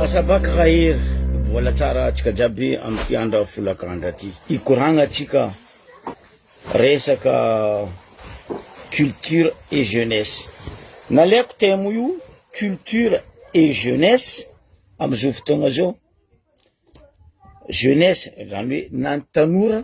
Asabaka Rahery, mbola tsara atsika jiaby amty andra folaka andra ty ikoragna tsika resaka culture et jeunesse. Naleako thème io culture et jeunesse amzao fotoagna zao, jeunesse zany hoe na ny tanora,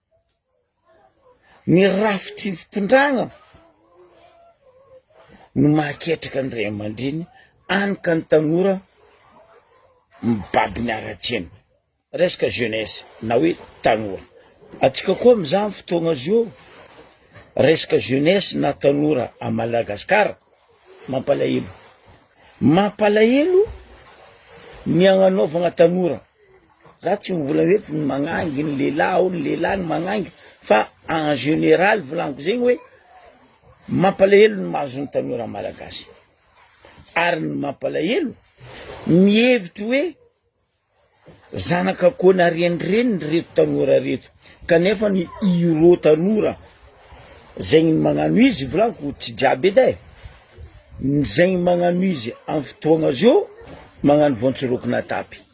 Ny rafitry ny fitondrana no mahaketraka ny ray aman-dreny any ka ny tanora mibaby ny haratsiana. Resaka jeunesse na hoe tanora. Antsika koa amin'izany fotoagna zao resaka jeunesse na tanora à Madagascar mampalahelo. Mampalahelo ny agnanaovagna tanora. Za tsy mivola hoe tsy magnangy ny lehilahy ao ny lehilahy no magnangy fa en général volaniko zegny hoe mampalahelo ny mahazo ny tanora malagasy ary ny mampalahelo mihevitry hoe zanak'akôna renireny reto tanora reto kanefa ny irô tanora zegny magnano izy volaniko tsy jiaby edy e ny zegny magnano izy amin'ny fotoagna zô magnano voantsirokina atapy.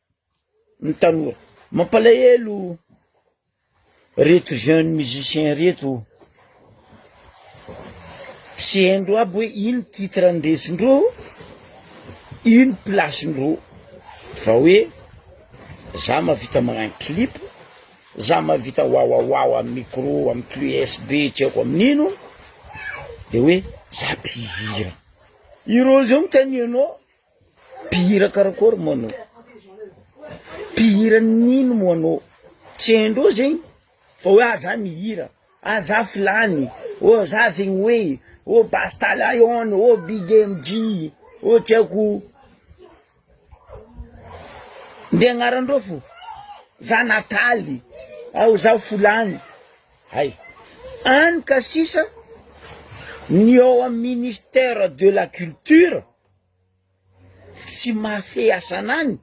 ny taloha. Mampalahelo reto jeune musicien reto tsy haindreo aby hoe ino titre ndresindreo ino place ndreo fa hoe za mavita magnano clip za mavita wawawawa am micro am clé USB tsy aiko am nino de hoe za mpihira ireo zao mitania anao Mpihira karakory moa anao? Mpihira nino moa anao? Tsy haindreo zegny fa hoe ah za mihira, ah za filany, oh za zegny hoe, oh basta lion, oh big MJ, oh tsy haiko nde agnarandreo fo, za nataly, ah oh za folany, hay any ka sisa ny ao amin'ny ministère de la culture. Tsy mahafehy sanany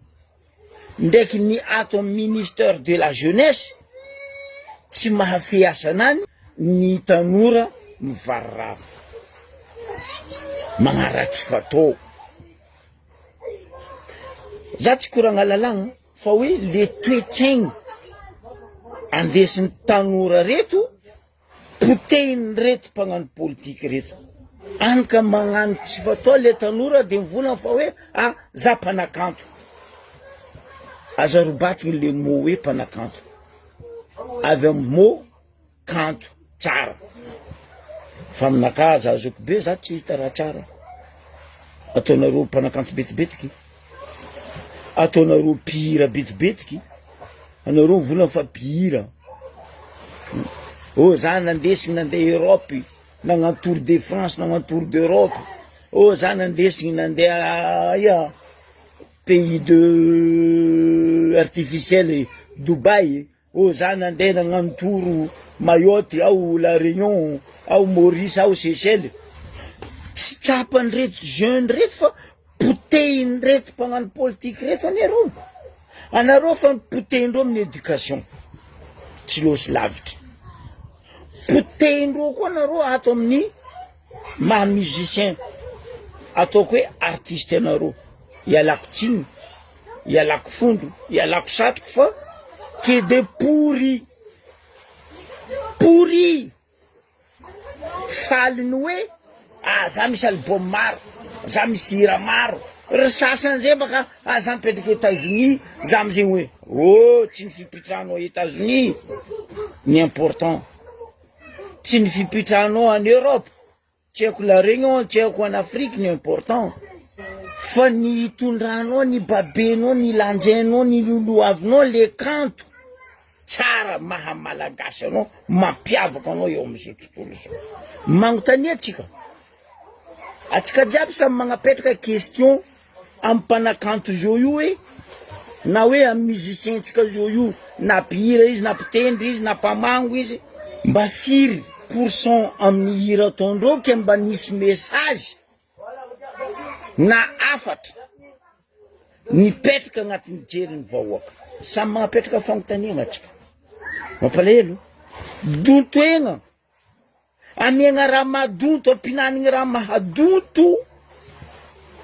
ndraiky ny ato amin'ny ministère de la jeunesse, tsy mahafehy sanany ny tanora mivarirary magnaratsy fatô. Za tsy koragna lalàgna fa hoe le toe-tsaigny andesin'ny tanora reto. Potehiny reto mpagnano politika reto any ka magnano tsy fatao le tanora de mivolagna fa hoe a za mpanakanto aza robatigny le mot hoe mpanakanto avy am mot kanto tsara fa aminakà aza azoky be za tsy hita raha tsara ataonareo mpanakanto betibetiky. Ataonareo mpihira betsibetiky anareo volany fa mpihira oh za nandesiny nande Europe nagnano tour de France nagnano tour d'Europe oh za nandesiny nande aia pays de artificiel Dubaï Oh za nandeha nagnano tour Mayotte aho la Réunion aho Maurice aho Seychelles tsy tsapan reto jeune reto fa potehin reto mpagnano politique reto anareo anareo fa potehin reo amin'ny éducation tsy losy lavitra potehin reo koa anareo ato amin'ny Maha musicien ataoko hoe artiste anareo ialako tsiny ialako fondro ialako satriko fa kede pory pory faly ny hoe ah za misy album maro za misy hira maro ry sasany zay baka ah za mipetraka Etazonia za amizay hoe oh tsy ny fipitrahano a Etazonia ny important Tsy ny fipitranao any Europe tsy haiko la réunion tsy haiko any Afrique no important fa ny hitondranao ny babenao ny lanjainao ny lolohavinao le kanto tsara maha malagasy anao mampiavaka anao eo amin'izao tontolo izao manontania atsika atsika jiaby samy magnapetraka question Amin'ny mpanakanto Jojo e, na hoe amin'ny musicien-tsika Jojo, na mpihira izy, na mpitendry izy, na mpamango izy, mba firy pour cent amin'ny hira ataondreo ke mba nisy message na hafatra nipetraka agnatin'ny jerin'ny vahoaka? Samy magnapetraka fanontaniagna tsika. Mampalahelo. Dontoegna. Amiagna raha madoto ampinanigny raha mahadoto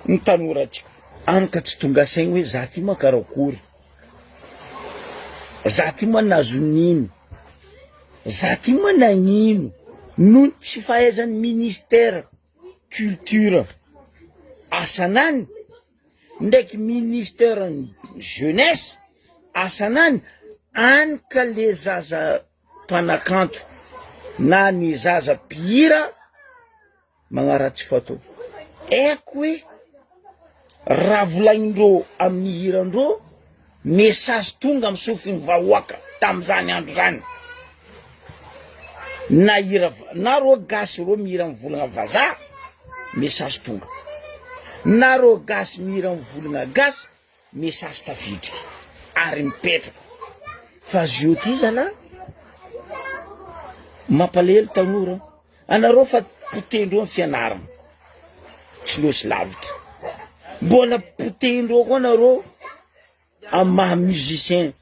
ny tanora tsy any ka tsy tonga saigny hoe za ty moa karakory za ty moa nazo nino za ty moa nagnino noho ny tsy fahaizan'ny ministera culture asanany ndraiky ministera ny jeunesse asanany any ka le zaza mpanakanto na ny zaza mpihira magnaratsy foto. Aiko hoe raha volagnindreo amin'ny hirandreo, message tonga amin'ny sofin'ny vahoaka tamin'izany andro izany. Na hira na reo gasy reo mihira amin'ny volagna vazaha, message tonga. Na reo gasy mihira amin'ny volagna gasy, Message tafiditra ary mipetraka fa ziotizana an! Mampalahelo tanora anareo fa potehindreo ny fianarana tsy losy lavitra mbola potehindreo koa nareo amin'ny maha musicien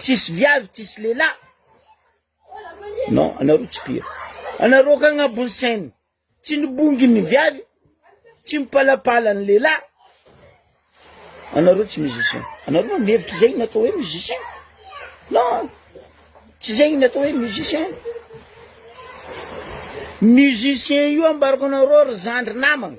Tsisy viavy tsisy lehilahy non anareo tsy pire anareo ka agnabon'ny sainy tsy nibongy ny viavy tsy mipalapala ny lehilahy anareo tsy musicien anareo no mihevitra izay no atao hoe musicien non tsy izay no atao hoe musicien musicien io ambarako anareo ry zandry namagna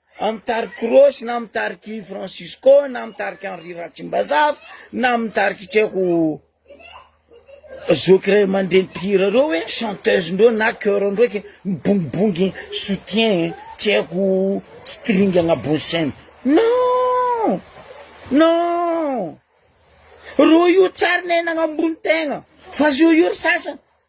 Amin'ny tarik'i Rosy na amin'ny tarik'i Francisco na amin'ny tarik'i Henri Ratsimbazafy na amin'ny tarik'i tsy haiko zoky iray aman-dreny mpihira ireo hoe chanteuse-ndreo na chœur-ndreo ke mibongibongy soutien tsy haiko string agnabon'ny scène. Non! Non! Roa io tsary nainagna ambony tegna fa zao io ry sasany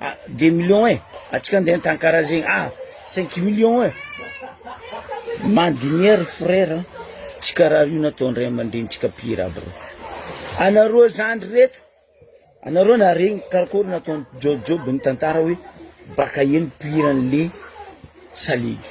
Ah des millions eh! Atsika andeha antankara zegny ah cinq millions eh! Mandiniha ry frère an! Tsy karaha io natao ndray aman-drenintsika mpihira aby reo! Anareo zandry reto anareo naharegny karakory nataon'i Jojo be nitantara hoe baka eny mpihira an'le salegy.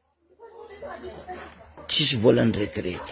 Tsisy volan'ny retraite.